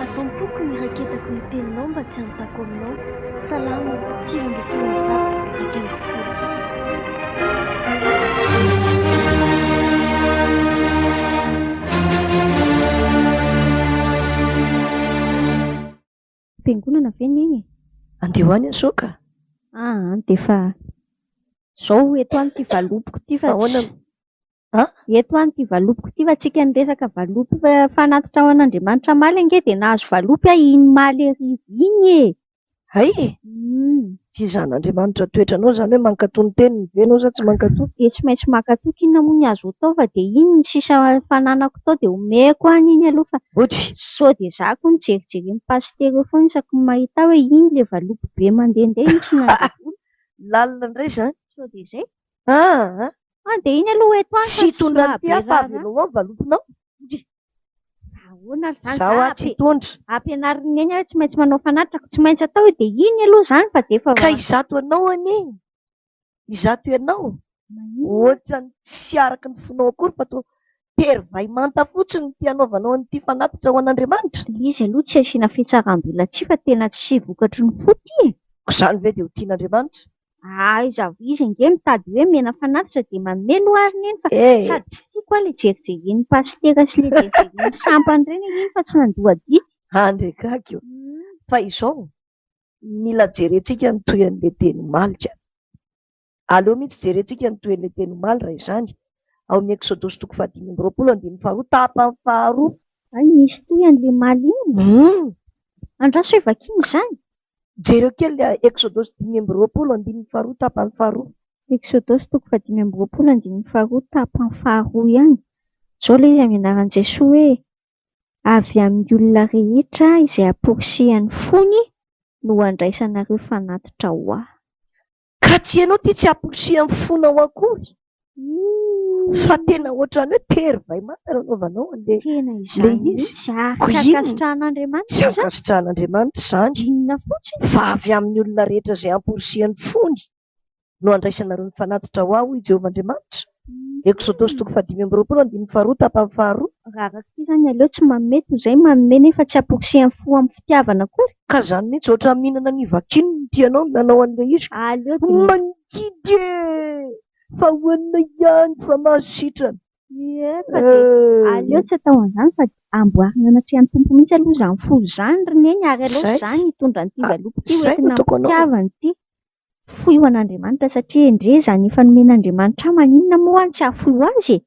Atao am-poko ny raketako ny teninao mba tsy hanontako aminao. Salamo, sivy ambin'ny folo amby zato, dimy ambin'ny folo. Fiangonana ve ny egny e? Andeha ho any aho sao ka. Ah an, dia efa izao eto any ity valopiko ity fa Ahoana tsy... An? Eto any ity valopiko ity fa tsika niresaka valopy fa fanatitra ho an'Andriamanitra hamaly ange dia nahazo valopy aho iny maly hariva iny e! Hay e! Hum. Tsy zan'Andriamanitra toetranao izany hoe mankatoa ny teniny ve ianao sa tsy mankatoa? Dia tsy maintsy mankatoa ko inona moa ny azo atao fa dia iny ny sisa fananako tao dia omeko any iny aloha fa Botry. sao dia za ko nijerijeren'i pasitera eo foana isaky ny mahita aho hoe iny le valopy be mandehandeha iny tsy nandevoly Lalina indray izany. sao dia izay. Aa! An dia iny aloha eto any fa Tsy tsy hitondra an'ity aho fa mahabe raharaha. avelao ao ny valopinao. Botry. Ahoana ary izany? Izaho atsy hitondra. Ampianarin'i Neny aho hoe tsy maintsy manao fanatitra, tsy maintsy atao hoe dia iny aloha izany fa dia efa... Ka izato ianao anie, izato ianao, ohatran'ny tsy araka ny fonao akory fa toa tery vay manta fotsiny ity anaovanao an'ity fanatitra ho an'Andriamanitra? Ilay izy aloha tsy asiana fitsaram-belatsihy fa tena tsy vokatry ny fo ity e! Koa izany ve dia ho tian'Andriamanitra? Aiza avy izy ange mitady hoe mena fanatitra dia manome aloha ary neny fa sady tsy tiako aho ilay jerijeren'ny pasitera sy ilay jerijeren'ny sampany ireny ange iny fa tsy nandoa adidy. Any re gaga io. Fa izao, mila jerentsika ny tohin'ilay teny omaly ka. Aleo mihitsy jerentsika ny tohin'ilay teny omaly raha izany, ao amin'ny Eksodosy toko fahadimy amby roapolo andininy faharoa tapany faharoa. Hay misy tohiny le omaly iny. Uhm. Andraso hoe vakiana izany. Jereo kely ilay Eksodosy dimy amby roapolo andininy faharoa tapany faharoa. Eksodosy toko fahadimy amby roapolo andininy faharoa tapany faharoa ihany. Izao ilay izy amin'ny anaran'i Jesoa hoe, Avy amin'ny olona rehetra izay amporisihan'ny fony no handraisanareo fanatitra ho Ahy. Ka tsy ianao ity tsy amporisiham fonao akory fa tena ohatrany hoe tery vay manta no anaovanao anle tena izany mihitsy a tsy ankasitrahan'Andriamanitra tsy ankasitrahan'Andriamanitra izany inona fotsiny fa avy amin'ny olona rehetra izay amporisihan'ny fony no andraisanareo ny fanatitra ho aho i Jehovah Andriamanitra Eksodosy toko fahadimy amby roapolo andininy faharoa tapany faharoa. Raha araka ity izany aleo tsy manome toy izay manome nefa tsy amporisihany fo amin'ny fitiavana akory. Ka izany mihitsy ohatran'ny mihinana ny vakin ny tianao no nanao an'ilay izy ka. Aleo dia. Mangidy e! Fa hohanina ihany fa mahazo sitrana. Ie ka dia aleo tsy atao an'izany fa dia amboarina anatrehan'ny Tompo mihitsy aloha izany fo izany ry Neny ary aleo izany hitondra an'ity valopy ity ho entina amin'ny fitiavana ity. fohy ho an'Andriamanitra satria endrey izany efa nomen'Andriamanitra ahy maninona moa aho no tsy hahafoy ho azy e!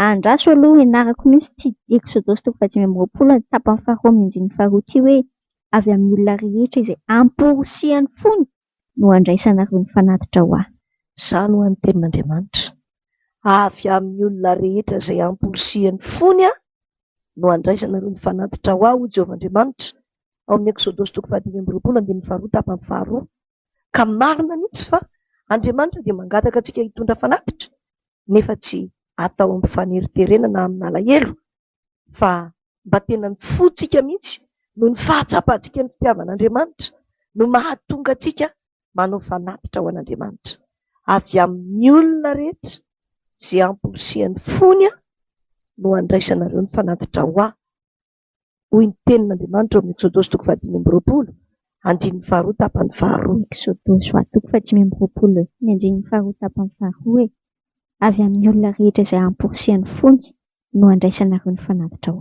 Andraso aloha hianarako mihitsy ity Eksodosy toko fahadimy amby roapolo ny tapany faharoa amin'ny andininy faharoa ity hoe, Avy amin'ny olona rehetra izay amporisihan'ny fony no handraisanareo ny fanatitra ho ahy. Izany ho ahy ny tenin'Andriamanitra, Avy amin'ny olona rehetra izay amporisihan'ny fony no handraisanareo ny fanatitra ho ahy, hoy Jehovah Andriamanitra, ao amin'ny Eksodosy toko fahadimy amby roapolo andininy faharoa tapany faharoa. ka marina mihitsy fa Andriamanitra dia mangataka antsika hitondra fanatitra nefa tsy atao amin'ny faneriterena na amin'ny alahelo fa mba tena ny fontsika mihitsy noho ny fahatsapantsika ny fitiavan'Andriamanitra no mahatonga antsika manao fanatitra ho an'Andriamanitra avy amin'ny olona rehetra izay amporisihan'ny fony aho no andraisanareo ny fanatitra ho ahy hoy ny Tenin'Andriamanitra ao amin'ny Eksodaosy toko fahadimy amby roapolo, andininy faharoa tapany faharoa. Eksodaosy hoa toko fahadimy amby roapolo, ny andininy faharoa tapany faharoa hoe, Avy amin'ny olona rehetra izay hamporisihany fony no handraisanareo ny fanatitrao.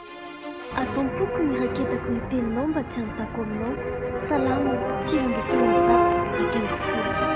Atao am-poko ny raketako ny teninao mba tsy hanontako aminao. Salamo, sivy ambin'ny folo amby zato, dimy ambin'ny folo.